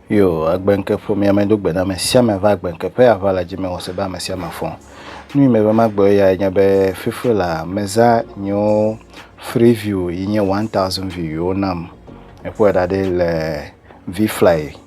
yo agbenke ƒomea me do gbe na ame sia ame va agbenke ƒe ava le dzi me wɔse be ame sia ame fɔ nu me be magbe ya nye be fifi la meza nyo free view yi nye 1000 view yo nam eƒo da ɖe le vfly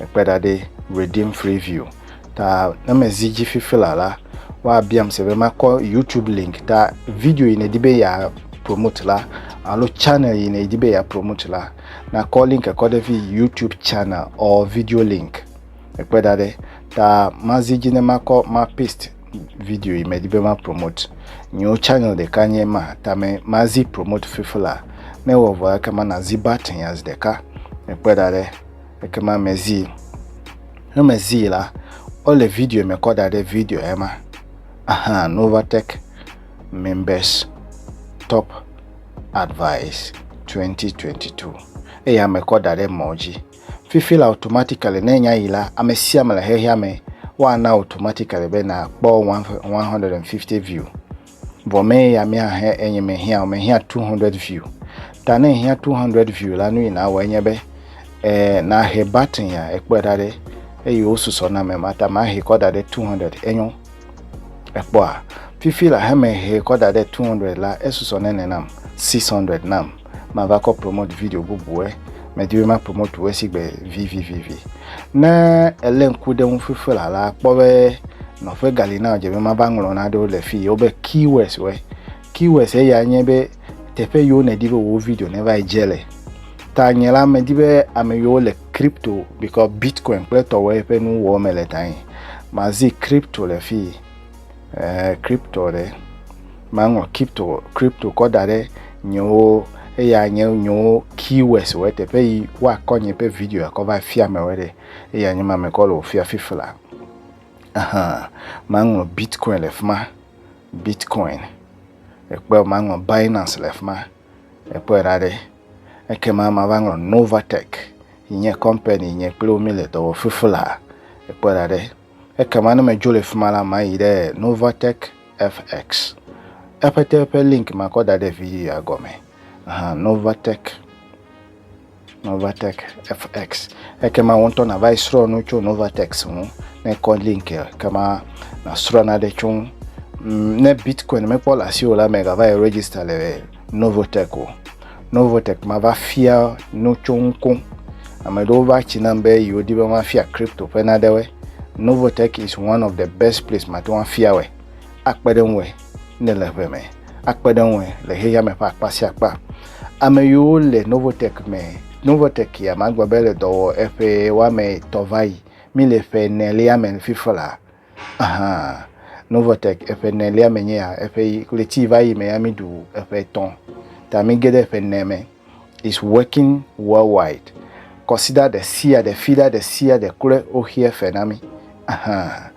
Mekpe ɖa ɖe Redeem Free View ta ne mezi dzi fifila la, woabiam se be makɔ YouTube link ta video yi nedi be ya promote la alo channel yi nedi be ya promote la nakɔ link kɔ ɖe vi YouTube channel or video link. Mekpe ɖa ɖe ta mazi dzi ne makɔ ma paste video yi medi be ma promote. Nyewo channel ɖeka nye ma ta me mazi promote fifila ne wɔ vɔ ekema nazi button ya zi ɖeka. Mekpe ɖa ɖe. Ekema mezii. Ne mezii la, wole video me kɔ da ɖe video ema. Aha, Novatech Members Top Advice 2022. Eya mekɔ da ɖe mɔ dzi. Fifi la automatically ne nya yi la, ame sia ame le xexea me woana automatically be nakpɔ 150 view. Vɔ mɛ ya míahe enyi mehiã o, mehiã 200 view. Ta ne ehiã 200 view la, nu yi nawɔ enye be e, nahe button ya, ekpɔe ɖa ɖe, eye wosusɔ na mɛ ma ta mahe kɔ da ɖe 200, enyo. Ekpɔa? Fifi la he mehe kɔ da ɖe 200 la, esusɔ nene nam, 600 nam. mava kɔ promote video bubue medi be ma promote wo esi gbe vivivivi ne ele ŋku ɖe ŋu fifi la la kpɔ be nɔƒe gali na dze be mava ŋlɔ naɖewo le fi wobe keywords we keywords eya nye be teƒe yiwo nedi be wo video ne va dze le ta nye la medi be ame yiwo le crypto because bitcoin kple tɔwɔe ƒe nu wɔ me le ta yi mazi crypto le fi eh, crypto ɖe Maŋlɔ kipto kripto kɔ da ɖe nyewo eya nye nyewo keywords wɔ teƒe yi woakɔ nye ƒe video akɔ va fia me wɔ ɖe eya nye ma me kɔ le ofia fifla ahan maŋlɔ bitcoin le fima bitcoin ekpe maŋlɔ binance le fima ekpe ra ɖe eke ma ma va ŋlɔ novatech nye company nye kple omi le dɔwɔ fifla ekpe ra ɖe Ekema ne medzo le fi ma la, mayi ɖe Novatec FX. Eƒe te ƒe link makɔ da ɖe video ya gɔme. Aha, Novatec. Novatec FX. Ekema wo ŋutɔ nava yi srɔ̃ nu tso Novatec ŋu. Ne kɔ link kema nasrɔ̃ naɖe tso ŋu. Mm, ne Bitcoin mekpɔ le asiwò la, mègava yi register le Novotek o. Novotek mava fia nu tso ŋu koŋ. Ame aɖewo va tsi nam be yewo di be mafia crypto ƒe naɖewoe. Novotek is one of the best place mate ŋu afia wɔe. Akpe ɖe ŋue ne le ʋe me. Akpe ɖe ŋue le xexea me ƒe akpa sia akpa. Ame yiwo le Novotek me, Novotek ya magblɔ be le dɔ wɔ eƒe woame etɔ̃ va yi. Mi le ƒe enelia me fifla. Hã. Novotek eƒe nelia me nye ya, eƒe ɣleti va yi me ya mi ɖu eƒe etɔ̃ ta mi ge ɖe eƒe ne me. Is working worldwide. Kɔsida ɖe sia ɖe, fida ɖe sia ɖe kloe wo xe efe na mi. Hã.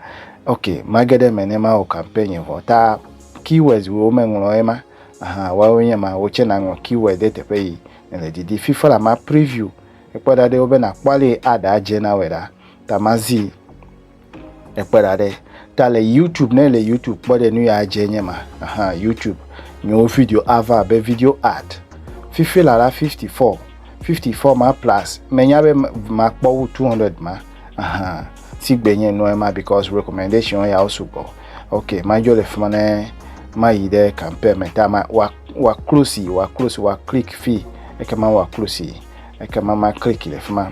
Ok, ma ge ɖe eme ne ma wɔ campaign vɔ ta keywords wo me ŋlɔ ema. Hã, woawo nye ma, wo tse na ŋlɔ keyword ɖe teƒe yi ne le didi. Fifa la ma preview ekpɔ ɖa ɖe wo be na kpɔ ale yi ad a dze na wɔe ɖa ta ma zi. Ekpe ɖa ɖe ta le YouTube ne le YouTube kpɔ ɖe nu ya dze nye ma. Aha, YouTube nyewo video ava abe video art. Fifi la la 54. 54 ma plus menya be makpɔ wu 200 ma. Aha, si gbe nye nua ma because recommendation ya sugbɔ. Ok, madzo le fima ne mayi ɖe campaign me ta ma wa wa close wa close wa click fi ekema wa close ekema ma click le fima.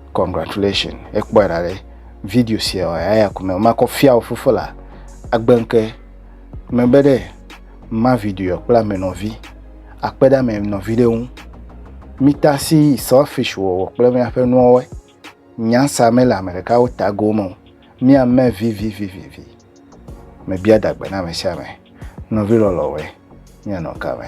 Congratulations ekpɔe ɖa ɖe video sia wa ya ya kume ma kɔ fia o fofo la agbenke me be ɖe ma video kpla me nɔvi akpe ɖa me nɔvi ɖe ŋu mita si selfish wɔwɔ kple miaƒe nuwɔwɔe nyansa mele ame ɖekawo tago me o miame vivivivivi mebia dagbe na ame sia ame nɔvi lɔlɔwoe mianɔ ka me